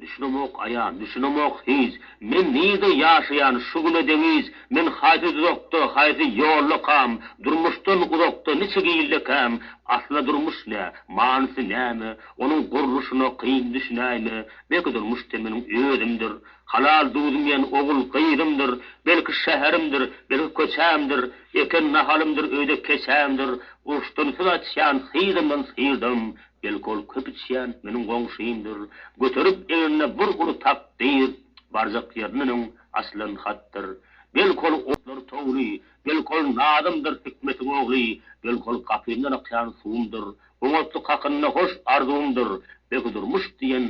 Düşünemok aýan, düşünemok hiç, Men nirde ýaşaýan şu güne deňiç, Men haýsy duzakda, haýsy ýolda kam, Durmuşdan uzakda niçik hilli käm, Asla durmuş nä, manysy näme, Onuň gurluşyna kyn düşünäýme, Belki durmuş sen meniň özümdir, Halal duzymýan ogul gyzymdyr, Belki şäherimdir, belki köçämdir, Eken nahalymdyr, öýde keçämdir, Uruşdan söz açýan hyzymdan syrdam, Belki ol köp içýän, meniň goňşymdyr, göterip egnine bir uly takdyr, barjak ýerinden öň açylan hatdyr. Belki ol otlar towly, belki ol Nazymdyr hikmetiň ogly, belki ol gapymdan akýan suwumdyr, oňatlyk hakynda hoş arzuwymdyr, belki durmuş diýen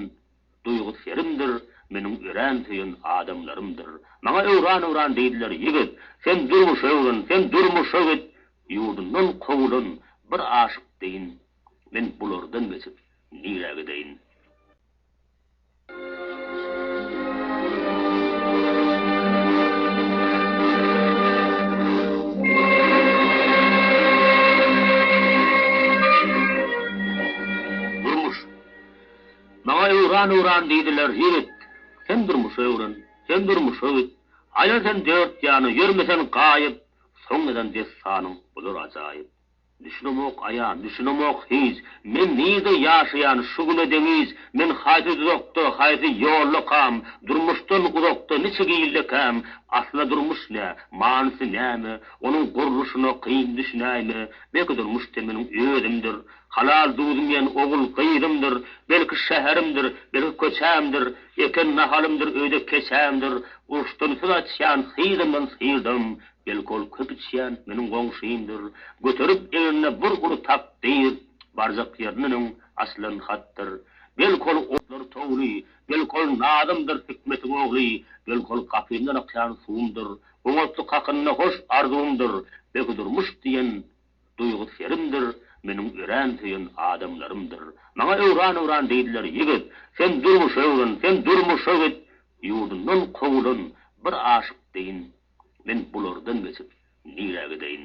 duýgy serimdir, meniň örän söýen adamlarymdyr. Maňa öwran-öwran diýdiler, Ýigit, sen durmuşa öwren, sen durmuşa git, ýurdundan kowulan bir aşyk deýin Men bulardan geçip, nirä gideýin? Durmuş. Maňa öwran, öwran diýdiler, ýigit, sen durmuşy öwren, sen durmuşa git, aýlan sen dört ýana, ýörme sen gaýyp, soň ýazan dessanyň bolar ajaýyp. Düşünemok aýa, düşünemok hiç, Men nirde ýaşaýan şu güne deňiç, Men haýsy duzakda, haýsy ýolda kam, Durmuşdan uzakda niçik ilde käm, Asla durmuş nä, manysy näme, Onuň gurluşyna kyn düşünäýme, Belki durmuş-da meniň özümdir, Halal duzym iýen ogul-gyzymdyr, Belki şäherimdir, belki köçämdir, Eken nahalymdyr, öýde keçämdir, Uruşdan söz açýan hyzymdan syrdam, Belki ol köp içýän, meniň goňşymdyr, göterip egnine bir uly takdyr, barjak ýerinde öň açylan hatdyr. Belki ol otlary towly, belki ol Nazymdyr hikmetiň ogly, belki ol gapymdan akýan suwumdyr, oňatly kakynda hoş arzuwymdyr, belki durmuş diýen Duýgy serimdir, meniň örän söýen adamlarymdyr. Maňa öwran-öwran diýdiler, Ýigit, sen durmuşa öwren, sen durmuşa git! Ýurdundan kowulan bir aşyk deýin, Men bulardan geçip, nirä gideýin?